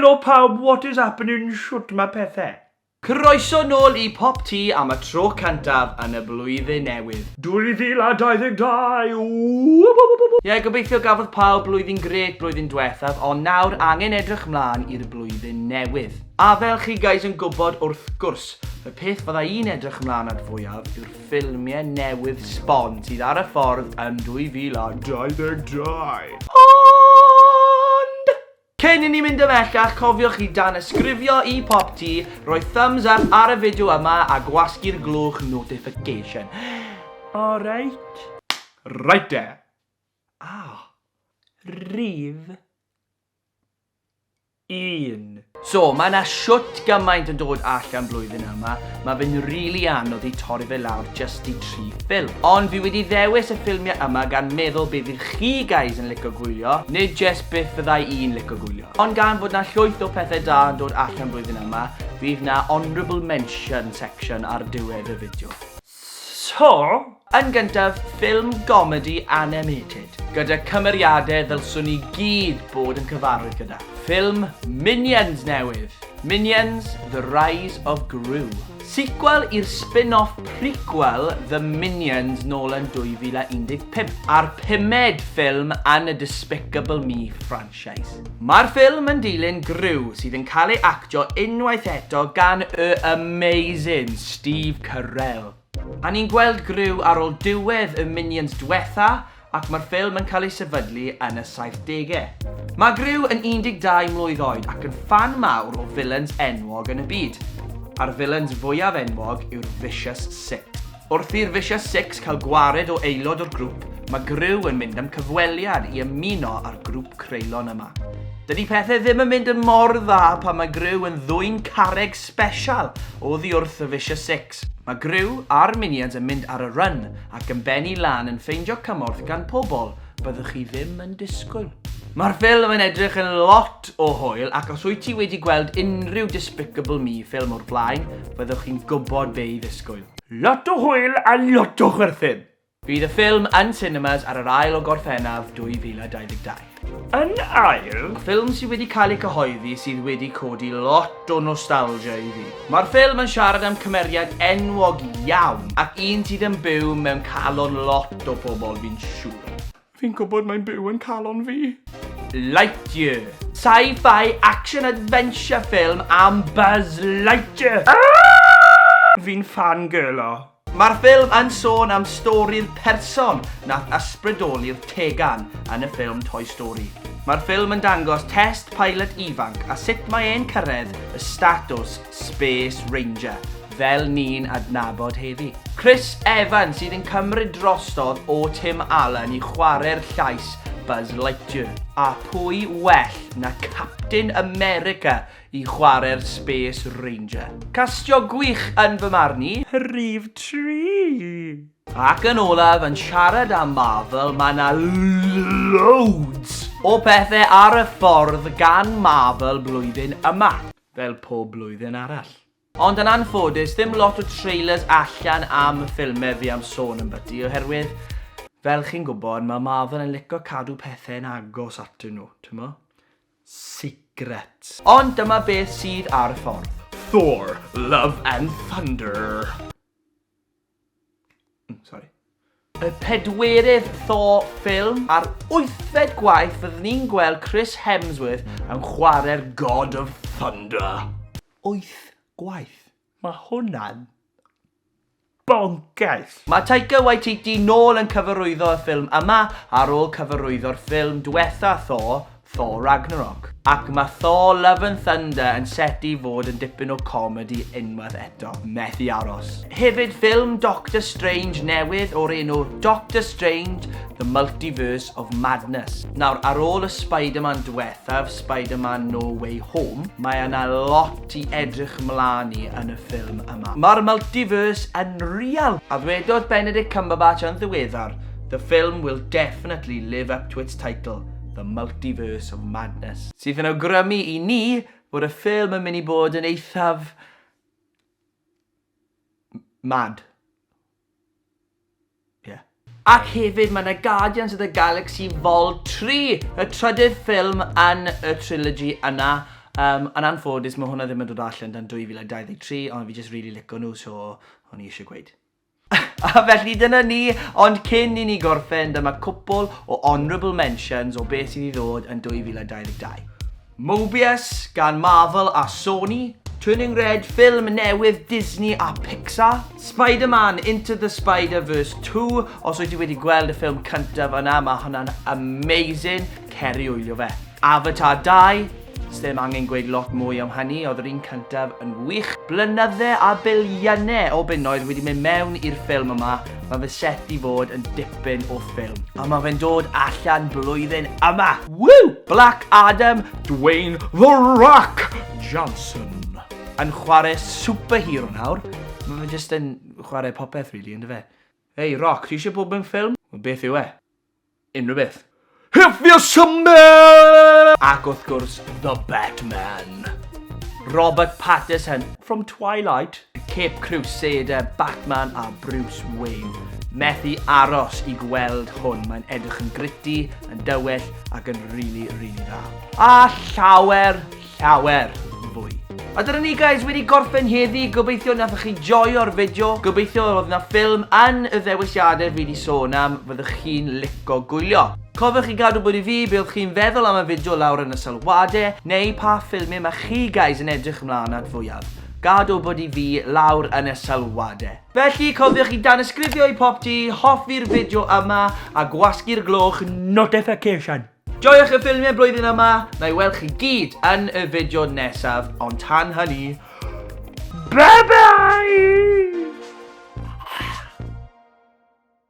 Helo pawb what is happening shwt ma pethe? Croeso nôl i Pop Tŷ am y tro cyntaf yn y Blwyddyn Newydd. 2022 wwwww! Ie gobeithio gafodd pawb blwyddyn grêt blwyddyn dwethaf ond nawr angen edrych mlan i'r blwyddyn newydd. A fel chi guys yn gwbod wrth gwrs, y peth fydda i'n edrych mlan at fwyaf yw'r ffilmie newydd sbon sydd ar y ffordd yn 2022! Ond! Cyn i ni mynd ymhellach, cofiwch i danysgrifio i Popty, rhoi thumbs up ar y fideo yma a gwasgu'r glwch notification. Alright? Right de! Ah. Rhif. Un. So, mae 'na shwt gymaint yn dod allan blwyddyn yma. ma fe'n rili anodd i torri fe lawr jyst i tri ffilm. Ond fi wedi ddewis y ffilmie yma gan meddwl be fydd chi guys yn lico gwylio, nid jyst beth fyddai i'n lico gwylio. Ond gan fod 'na llwyth o pethe da yn dod allan blwyddyn yma, fydd 'na honourable mention section ar diwedd y fideo. So, Yn gyntaf, ffilm gomedi animated, gyda cymeriadau ddylswn ni gyd bod yn cyfarwydd gyda, ffilm Minions newydd, Minions, The Rise of Gru. Sequel i'r spin-off prequel The Minions nôl yn 2015, a'r pumed ffilm yn y Despicable Me franchise. Mae'r ffilm yn dilyn Gru, sydd yn cael ei actio unwaith eto gan y amazing Steve Carell. A ni'n gweld Gru ar ôl diwedd y Minions dwetha ac mae'r ffilm yn cael ei sefydlu yn y saithdegau. Mae Gru yn 12 mlwydd oed ac yn ffan mawr o vilans enwog yn y byd. A'r vilans fwyaf enwog yw'r Vicious Six. Wrth i'r Vicious Six cael gwared o aelod o'r grŵp, mae Gru yn mynd am cyfweliad i ymuno â'r grŵp creulon yma. Dydy pethau ddim yn mynd yn mor dda pan mae Gru yn ddwyn carreg sbesial oddi wrth y Vicious Six. Alex. Mae Gryw a'r Minions yn mynd ar y run ac yn bennu lan yn ffeindio cymorth gan pobl byddwch chi ddim yn disgwyl. Mae'r ffilm yn edrych yn lot o hwyl ac os wyt ti wedi gweld unrhyw Despicable Me ffilm o'r blaen, fyddwch chi'n gwybod be i ddisgwyl. Lot o hwyl a lot o chwerthin! Bydd y ffilm yn cinemas ar yr ail o Gorffennaf 2022. Yn ail, ffilm sydd wedi cael ei cyhoeddi sydd wedi codi lot o nostalgia i fi. Mae'r ffilm yn siarad am cymeriad enwog iawn ac un sydd yn byw mewn calon lot o pobl fi'n siŵr. Fi'n gwybod mae'n byw yn calon fi! Lightyear. Sci-fi action adventure ffilm am Buzz Lightyear! Fi'n fangirlo! Mae'r ffilm yn sôn am stori'r person nath ysbrydoli'r tegan yn y ffilm Toy Story. Mae'r ffilm yn dangos test pilot ifanc a sut mae e'n cyrraedd y statws Space Ranger fel ni'n adnabod heddi. Chris Evans sydd yn cymryd drosodd o Tim Allen i chwarae'r llais Buzz Lightyear. A pwy well na Captain America i chwarae'r Space Ranger. Castio gwych yn fy marn i. Rhif tri! Ac yn olaf, yn siarad am Marvel, mae yna loads o pethau ar y ffordd gan Marvel blwyddyn yma, fel pob blwyddyn arall. Ond yn anffodus, ddim lot o trailers allan am y ffilmau fi am sôn ambyty oherwydd, fel chi'n gwybod, mae Marvel yn lico cadw pethau yn agos atyn nhw, timod? sigret. Ond dyma beth sydd ar y ffordd. Thor, Love and Thunder. Mm, sorry. Y pedwerydd Thor ffilm a'r wythfed gwaith fyddwn ni'n gweld Chris Hemsworth yn chwarae'r God of Thunder. Wyth gwaith? Mae hwnna'n Boncyrs! Mae Taika Waititi nôl yn cyfarwyddo y ffilm yma ar ôl cyfarwyddo'r ffilm dwetha Thor, Thor Ragnarok. Ac mae Thor Love and Thunder yn set i fod yn dipyn o comedi unwaith eto. Methu aros. Hefyd ffilm Doctor Strange newydd o'r enw Doctor Strange, The Multiverse of Madness. Nawr, ar ôl y Spider-Man dwethaf, Spider-Man No Way Home, mae yna lot Ti edrych mlan i yn y ffilm yma. Mae'r multiverse yn real! A ddwedodd Benedict Cumberbatch yn ddiweddar, The film will definitely live up to its title, The Multiverse of Madness. Sydd yn awgrymu i ni fod y ffilm yn mynd i bod yn eithaf... mad. Ie. Ac hefyd mae 'na Guardians of the Galaxy Vol 3, y trydydd ffilm yn y trilogy yna. Um, yn anffodus, mae hwnna ddim yn dod allan dan 2023, ond fi jyst really lico nhw, so o'n i eisiau gweud. A felly dyna ni, ond cyn i ni gorffen, dyma cwpl o honourable mentions o beth sydd i ddod yn 2022. Mobius gan Marvel a Sony, Turning Red, ffilm newydd Disney a Pixar, Spider-Man Into the Spider-Verse 2, os wyt ti wedi gweld y ffilm cyntaf yna, mae hwnna'n amazing, cer i wylio fe. Avatar 2, sdim angen gweud lot mwy am hynny, oedd yr un cyntaf yn wych. Blynydde a biliynau o bunnoedd wedi mynd mewn i'r ffilm yma, Mae fy set i fod yn dipyn o ffilm. A mae fe'n dod allan blwyddyn yma! Woo! Black Adam, Dwayne The Rock Johnson. Yn chwarae superhero nawr. Mae fe jyst yn chwarae popeth really, yn dy fe? Hei, Rock, ti eisiau bod mewn ffilm? Wel, beth yw e? Unrhyw beth. If you're summer! Ac wrth gwrs, The Batman. Robert Pattinson from Twilight. Cape Crusader, Batman a Bruce Wayne. Methu aros i gweld hwn, mae'n edrych yn gritty, yn dywell ac yn really, really dda. A llawer, llawer yn fwy. A dyna ni guys, wedi gorffen heddi, gobeithio nathoch chi joio'r fideo, gobeithio oedd yna ffilm yn y ddewisiadau fi wedi sôn am, fyddwch chi'n lico gwylio. Cofiwch i gadw bod i fi be oedd chi'n feddwl am y fideo lawr yn y sylwadau, neu pa ffilmau mae chi guys yn edrych ymlaen at fwyaf. Gadw bod i fi lawr yn y sylwadau. Felly, cofiwch i danysgrifio i popty, hoffi'r fideo yma, a gwasgu'r gloch notification. Joiwch y ffilmiau blwyddyn yma, na i weld chi gyd yn y fideo nesaf, ond tan hynny, bye bye!